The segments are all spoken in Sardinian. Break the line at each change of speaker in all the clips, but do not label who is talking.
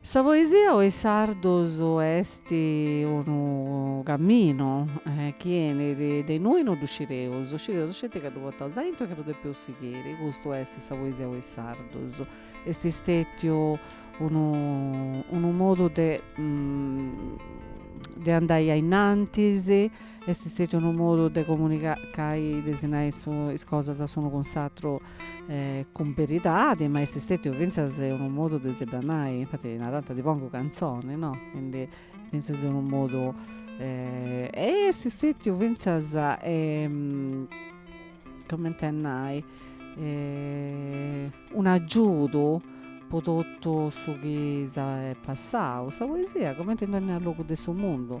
Sa poesia po is sardus est unu caminu chi 'enit de innui non ddu scireus, scireus sceti ca ddu portaus aintru e ca ddu depeus sighiri, custu est sa poesia po is sardus, est stetiu unu unu modu de de andai a innantis, est stetiu unu modu de comunicai, de si nai is cosas s'unu cun s'atru cun beridadi, ma est stètiu fintzas unu modu de si dda nai, infati nanta ti pongu cantzoni, no, quindi fintzas unu modu est stètiu fintzas comente a nai un'agiudu po totu su chi eus passau, sa poesia comente in dònnia logu de su mundu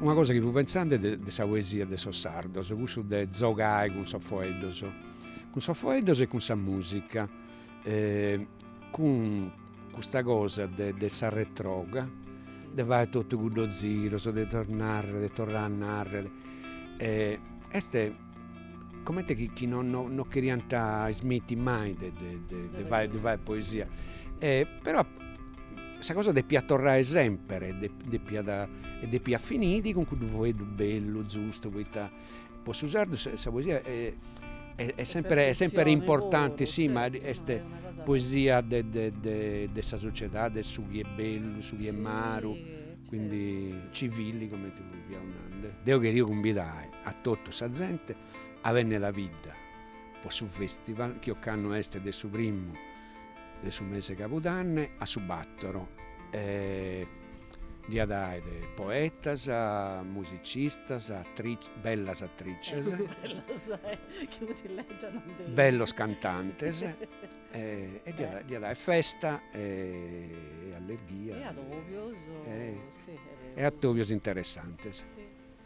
Una cosa chi fui pentzende de de sa poesia de sos sardos, cussu de zogai cun sos foeddos, cun sos foeddos e cun sa musica cun custa cosa de de sa retroga de fai totu cuddos ziros de torrare de torrai a narrer est comente chi, chi non, non, non cheriant ismitti mai de, de, de, de fai, de fai poesia. Però sa cosa depiat torrai semper e de, depiat, e depiat finiri cun cuddu foeddu bellu, zustu, poita po su sardu sa, sa poesia e est semper, est semper importanti, si, ma est poesia de, de, de, de sa sociedadi, de su chi est bellu, su chi est maru, quindi civili comente fiaus nande. Deu cheria cumbidai A totu sa zente a benner a bidda po su festival chi ocannu est de su primu de su mese 'e cabudanne a su battoro e ddi at aer poetas, musicistas, bellas attrices, bellos cantantes e ddi at aer festa e
allegria
e atobios
interessantes.